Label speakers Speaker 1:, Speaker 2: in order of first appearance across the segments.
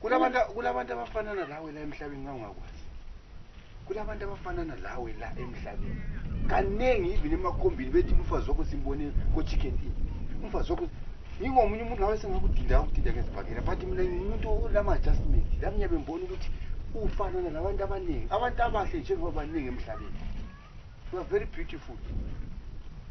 Speaker 1: Kulabantu kulabantu abafanana lawe la emhlabeni ngangakwazi. Kulabantu abafanana lawe la emhlabeni. Kaningi even emakhombini bethi umfazi wakho simbone ko chicken inn. Umfazi wakho ngingomunye umuntu ngabe sengakudinda ukudinda ngezibhakela but mina ngimuntu olama adjustment. Lami ngiyabe ngibona ukuthi ufanana nabantu abaningi. Abantu abahle njengoba baningi emhlabeni. You are very beautiful.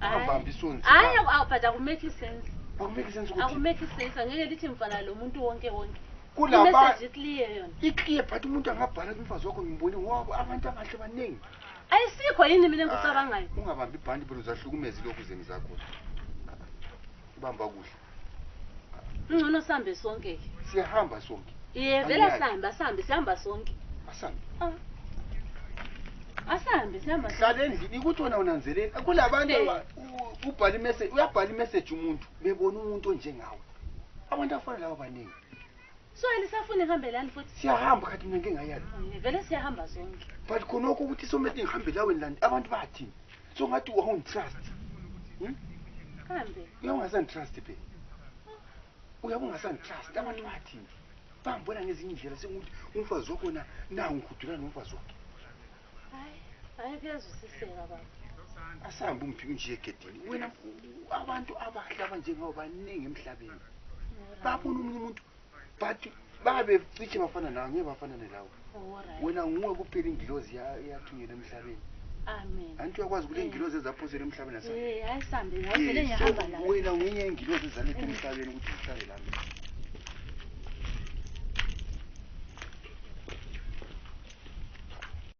Speaker 1: Ungabambi isoni. Hayi awubhada
Speaker 2: kumeki sense. Akumeki sense ukuthi.
Speaker 1: Akumeki sense angeke lithi
Speaker 2: mfana lo muntu wonke wonke. Kulaba message
Speaker 1: clear yona.
Speaker 2: I clear but umuntu
Speaker 1: angabhala kumfazi wakho ngimbone wabo abantu abahle baningi. Ayisikho yini
Speaker 2: mina engikucabangayo. Ungabambi ibhandi bro
Speaker 1: zahlukumeza lokhu zeni zakho. Ubamba kuhle.
Speaker 2: Ngcono sihambe sonke ke. Siyahamba sonke.
Speaker 1: Ye vele sihambe
Speaker 2: asihambe sihamba sonke. Asihambe.
Speaker 1: Ah.
Speaker 2: Asihambe sihamba. Hlale endlini ukuthi wena
Speaker 1: unanzeleni kulabantu ubhala imessage uyabhala imessage umuntu bebona umuntu onjengawe. Abantu afana lawo baningi. So
Speaker 2: elisafuna ihambe lani futhi? Siyahamba khathi mina ngingayala.
Speaker 1: Vele siyahamba
Speaker 2: sonke. But khona ukuthi
Speaker 1: somethi ngihambe laweni lani abantu bathini? So ngathi wawung trust. Hmm? Kambe
Speaker 2: uyawangasan trust phela.
Speaker 1: Uyabungasan trust abantu bathi bangibona ngezinye indlela senguthi umfazi wakho na na ungihudula nomfazi wakhe. Hayi,
Speaker 2: hayi kuyazwisiseka baba. Asambe
Speaker 1: umphike nje egedini. Wena abantu abahle abanjengawo baningi emhlabeni. Babona umunye umuntu but babe cishe bafana nawe ngeke bafanane lawo wena nguwe kuphela ingilozi yathunyelwa emhlabeni anti
Speaker 2: uyakwazi ukuthi ingilozi
Speaker 1: ezaphosela emhlabeni wena ngenye
Speaker 2: ingilozi
Speaker 1: ezaletha emhlabeni ukuthi zihlale
Speaker 2: lami